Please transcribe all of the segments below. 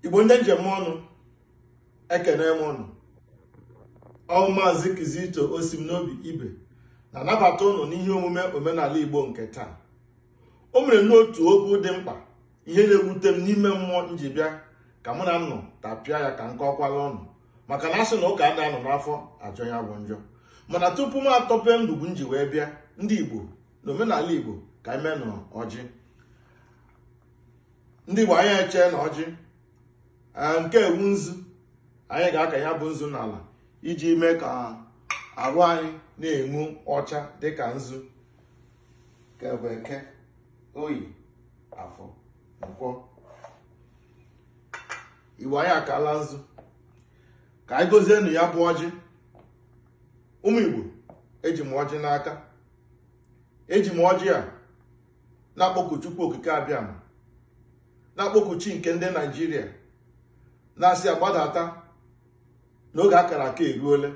igbo ndị njem ọnụ ekene m ụnụ ọ wụ maazị Kizito Osimn'obi Ibe na-anabata ụnụ n'ihe omume omenala igbo nke taa o mere n'otu okwu dị mkpa ihe na-ewute m n'ime mmụọ m ji bịa ka mụ na ụnụ tapịa ya ka m kọkwala ụnụ maka na a sị na ụka a na-anọ n'afọ ajọ ya bụ njọ mana tupu m atọpe ngwugwu m ji wee bịa ndị igbo n'omenala igbo ka anyị meenụ ọjị ndị igbo anyị echeenụ ọjị nke a wụ nzu anyị ga-aka ya bụ nzu n'ala iji mee ka arụ anyị na-enwu ọcha dịka nzu nke bụ eke oye afọ nkwọ igbo anyị akaala nzu ka anyị gọzienụ ya bụ ọjị ụmụ igbo eji m ọjị n'aka eji m ọjị a na-akpọku Chukwu Okike Abịama na-akpọku chi nke ndị Naijiria na-asị agbadata na oge a kara aka eruole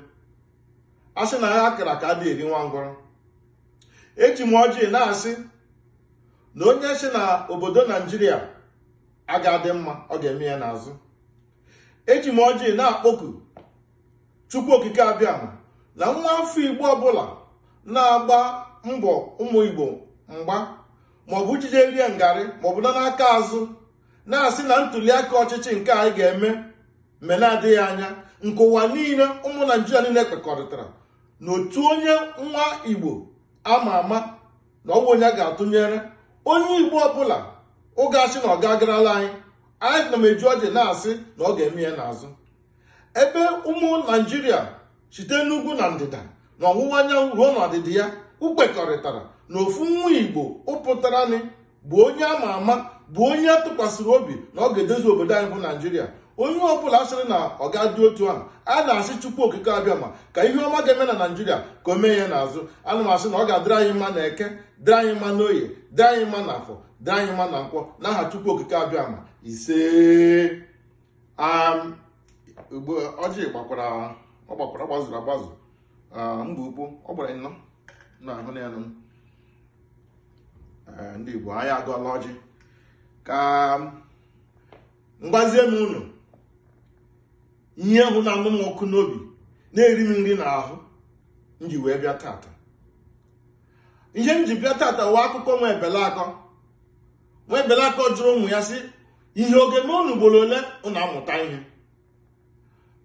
a sị na agha a kara aka adịghị eri nwa ngwọrọ eji m ọjị na-asị na onye sị na obodo Naijiria aga adị mma ọ ga-eme ya n'azụ eji m ọjị na-akpọku Chukwu Okike Abịama na nwa afọ Igbo ọbụla na-agba mbọ ụmụ Igbo mgba maọbụ ijije rie ngarị maọbụ nara aka azụ na-asị na ntuliaka ọchịchị nke anyị ga-eme mgbe na-adịghị anya nke ụwa niile ụmụ naijiria niile kwekọrịtara na otu onye nwa igbo ama ama na ọ wụ onye ga-atụnyere onye igbo ọbụla ga-asị na ọ ga-agarala anyị anyị na m eji ọjị na-asị na ọ ga-eme ya n'azụ ebe ụmụ naijiria site n'ugwu na ndịda na ọwụwa anyanwụ ruo n'ọdịda ya kwekọrịtara na ofu nwa igbo pụtaranị bụ onye ama ama bụ onye a tụkwasịrị obi na ọ ga-edozi obodo anyị bụ naijiria onye ọbụla sịrị na ọ ga-adị otu ahụ a na-asị chukwu okike abịama ka ihe ọma ga-eme na naijiria ka o mee ya n'azụ ana m asị na ọ ga-adịrị anyị mma na eke dịrị anyị mma n'oye dịrị anyị mma na afọ dịrị anyị mma na nkwọ n'aha chukwu okike abịama ise um, Igbo ọjị gbakwara ọ gbakwara gbazuru agbazu um, mba ukwu ọ gbara anọ na-ahụ na elu um, ndị Igbo anyị agọọla ọjị ka m gwazie unu ihe ahụ na-anụ m ọkụ n'obi na-eri m nri n'ahụ m ji wee bịa tata ihe m ji bịa tata wụ akụkọ nwa ebele akọ nwa ebule akọ jụrụ ụmụ ya sị ihe ọ ga-eme unu ugboro ole unu amụta ihe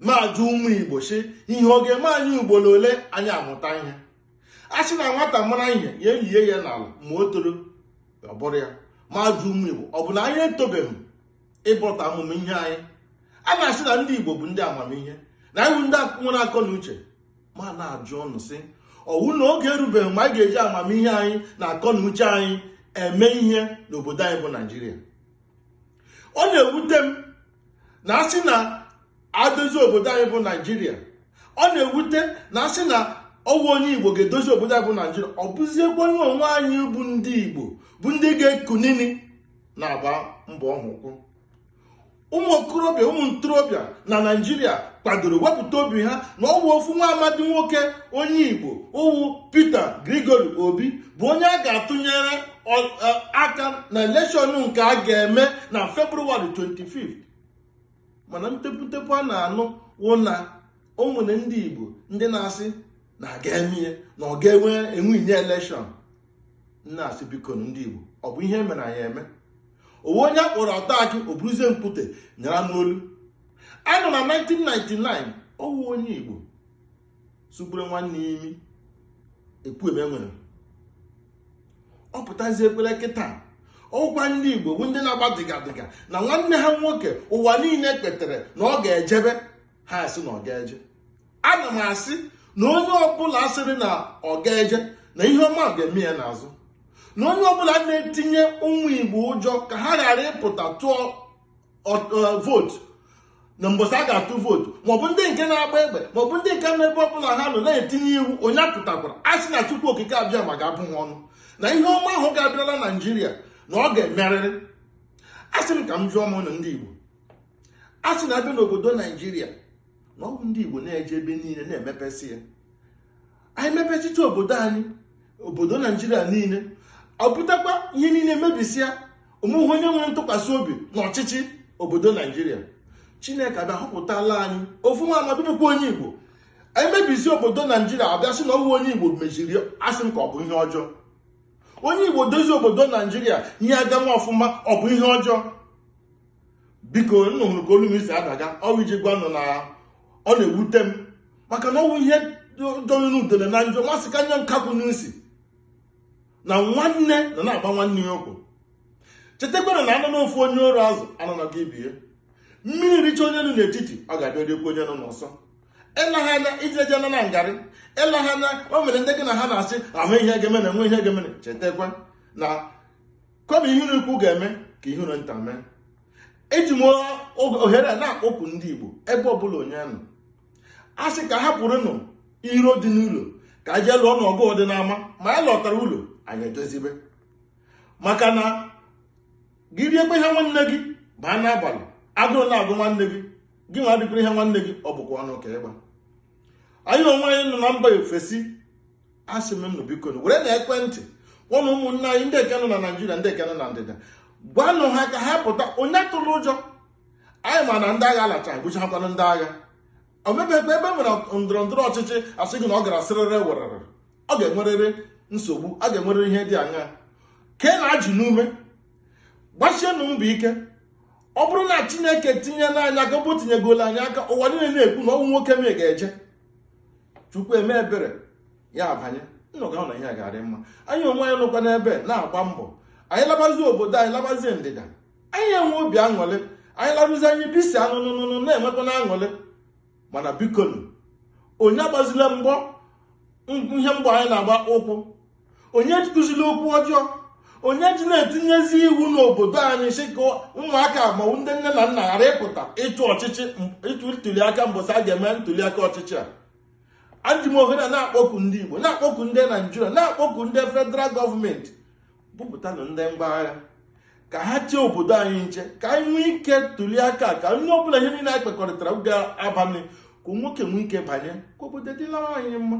m ajụ ụmụ igbo sị ihe ọ ga-eme anyị ugboro ole anyị amụta ihe a sị na nwata mara ihe ya elie ya n'ala ma o toro ọ bọrọ ya m ajụ ụmụ igbo ọ bụ na anyị etobeghị ịbọta amamihe anyị a na-asị na ndị igbo bụ ndị amamihe na anyị bụ ndị nwere akọ na uche m ana-ajụ ụnụ sị ọwụ na oge erubeghị mgbe anyị ga-eji amamihe anyị na akọ na uche anyị eme ihe n'obodo anyị bụ naijiria ọ na-ewute m na asị na adozi obodo anyị bụ naijiria ọ na-ewute na asị na ọwụ onye igbo ga-edozi obodo anyị bụ naijiria ọ bụziekwa anyị onwe anyị bụ ndị igbo bụ ndị ga-ekunini na-agba mbọ ahụ ụkwụ ụmụ okorobịa ụmụ ntorobịa na naijiria kwadoro wepụta obi ha na ọwụ ofu nwa amadi nwoke onye igbo wụ peter gregory obi bụ onye a ga-atụnyere aka na elekshọn nke a ga-eme na february 25 mana ntepuntepu a na-anụ wụ na o nwere ndị igbo ndị na-asị na agaghị eme na ọ gaghị enwe enwe elekshọn m na-asị biko ndị Igbo ọ bụ ihe e mere anyị eme ọwụ onye akpọrọ ọta akị o buruzie mkpute nyara n'olu anyị nọ na 1999 ọwụ onye Igbo sugburu nwanne ya imi ekwueme nwere ọ pụtaziekwala kịta ọwụkwa ndị Igbo bụ ndị na-agba dịga dịga na nwanne ha nwoke ụwa niile kwetere na ọ ga-ejebe ha asị na ọ gaghị eje ana m asị na onye ọbụla sịrị na ọ gaghị eje na ihe ọma ahụ ga-eme ya n'azụ na onye ọbụla na-etinye ụmụ igbo ụjọ ka ha ghara ịpụta tụọ vootu na mbọsị a ga-atụ vootu maọbụ ndị nke na-agba egbe maọbụ ndị nke n'ebe ọbụla ha nọ na-etinye iwu onye apụtakwara a sị na chukwu okike abịama ga-abụ ha ọnụ na ihe ọma ahụ ga-abịala naijiria na ọ ga-emerịrị a sị m ka m jụọ m ụnụ ndị igbo a sị na abịa n'obodo naijiria na ọ bụ ndị igbo na-eje ebe niile na-emepesị ya anyị mepesịa obodo anyị obodo naijiria niile ọ pụtakwa ihe niile mebisịa onweghị onye nwere ntụkwasị obi n'ọchịchị obodo naijiria chineke abịa họpụtala anyị ofu nwa amadi bụkwa onye igbo anyị mebisi obodo naijiria abịa sị na ọwụ onye igbo meziri asị m ka ọ bụ ihe ọjọọ onye igbo dozie obodo naijiria ihe agawa ọfụma ọ bụ ihe ọjọọ biko unu nụrụ ka olu m si adaga ọwụ iji gwa unu na ọ na-ewute m maka na ọwụ ihe jọrọ n'udele na njọ ma sikarịa nkakwụ n'isi na nwanne na na-agba nwanne ya ụkwụ chetakwanụ na anọ n'ofu onye ụrụ azụ anọ na gị bie mmiri richa onye nọ n'etiti ọ ga-abịa riekwu onye nọ n'ọsọ eleghị anya ije je na ngarị eleghị anya o nwere ndị gị na ha na-asị ahụ ihe ga-emene enwe ihe ga-emene chetakwa na kama ihere ukwu ga-eme ka ihere nta mee eji m ohere a na-akpọku ndị Igbo ebe ọbụla onye nọ a sị ka hapụrụnụ iro dị n'ụlọ ka e jee lụọnụ ọgụ dị n'ama ma a lọtara ụlọ anyị edozibe maka na gị riekwa ihe nwanne gị baa n'abalị agụụ na-agụ nwanne gị gị nwa adịkwuru ihe nwanne gị ọ bụkwa ọnụ ka ịgba anyị onwe anyị nọ na mba ofesi asị m nụ biko werenụ ekwentị ụmụ ụmụnne anyị ndị nke nọ na naijiria ndị nke nọ na ndịda gwanụ ha ka ha pụta onye atụla ụjọ anyị ma na ndị agha alacha gụchakwanụ ndị agha o nwebeghị ebe e nwere ndọrọ ndọrọ ọchịchị a sị gị na ọ gara sịrịrị werere ọ ga-enwerịrị nsogbu a ga-enwerịrị ihe dị aṅaa ka ị na-ajụ n'ume gbasienụ mbọ ike ọ bụrụ na chineke tinyela anyị aka bụ tinyegola anyị aka ụwa niile na-ekwu na ọ wụ nwoke m ga-eje chukwu eme ebere ya abanye nnụ ga-ahụ na ihe ga-adị mma anyị onwe anyị nọkwa n'ebe na-agba mbọ anyị labazi obodo anyị labazie ndịda anyị enwe obi aṅụrị anyị larụzi anyị bisi anụnụnụnụ na-enwekwa na aṅụrị mana bikonu onye agbazila mbọ ihe mbọ anyị na-agba ụkwụ onye ekwuzila okwu ọjọọ onye ji na-etinyezi iwu n'obodo anyị sị ka ụmụaka ma ndị nne na nna ghara ịpụta ịtụ ọchịchị ịtụ ntuliaka mbọsị a ga-eme ntuliaka ọchịchị a eji m ohere na-akpọku ndị Igbo na-akpọku ndị Naijiria na-akpọku ndị federal gọọmenti bupụtanụ ndị ngwa agha ka ha chee obodo anyị nche ka anyị nwee ike tuli aka ka onye ọbụla ihe niile anyị kwekọrịtara ga-abanye ka nwoke nwee ike banye ka obodo dịlara anyị mma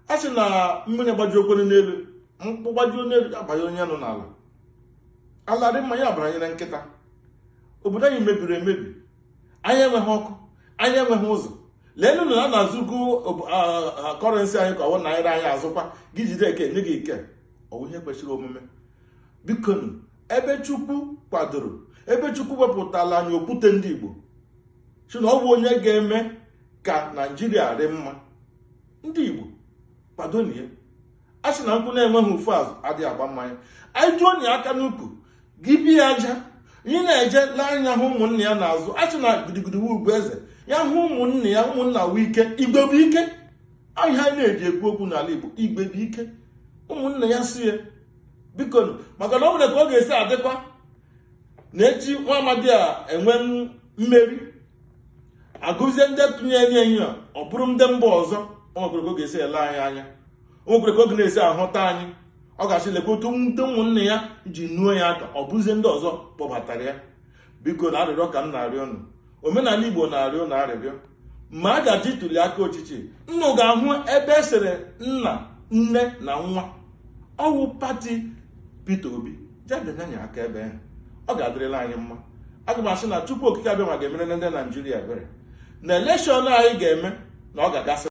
a sị na mmanya gbajuokwere n'elu nkwụ gbajuo n'elu abanye onye nọ n'ala ala dị mma ya abaranyere nkịta obodo anyị mebiri emebi anyị enweghị ọkụ anyị enweghị ụzọ leenụ na a na-azụgo kọrensị anyị ka ọ wụ naira anyị azụkwa gị jide eke nye gị ike ọ wụ ihe kwesịrị omume bikonu ebe chukwu kwadoro ebe chukwu wepụtala anyị okwute ndị igbo sị na ọ bụ onye ga-eme ka naijiria dị mma ndị igbo kwadonụ ya a sị na nkwụ na-enweghị ofu azụ adịghị agba mmanya anyị tụọ onye aka n'ukwu gị bie aja ị na-eje n'anya hụ ụmụnne ya n'azụ a sị na gidigidi wụ ugwu eze ya hụ ụmụnne ya ụmụnna wụ ike igwe bụ ike aha anyị na-eji ekwu okwu n'ala igbo igwe bụ ike ụmụnne ya si ya biko maka na o nwere ka ọ ga-esi adịkwa na echi nwa amadi a enwe mmeri a gụzie ndị tụnyere enyi a ọ bụrụ ndị mba ọzọ o nwekwere ka ọ ga-esi ele anyị anya o nwekwere ka ọ ga na-esi ahụta anyị ọ ga-asị lekwa otu ndị ụmụnne ya ji nuo ya aka ọ bụzie ndị ọzọ kpọbatara ya bikonu arịrịọ ka m na-arịọ unu omenala igbo na-arịọ unu arịrịọ ma a ga-eje ituli aka ọchịchị nnụ ga-ahụ ebe e sere nna nne na nwa ọ wụ pati Peter Obi je bịanye aka ebe ahụ ọ ga-adịrịla anyị mma aga m asị na Chukwu okike Abịama ga-emere ndị Naijiria ebere na elekshọn anyị ga-eme na ọ ga-agasị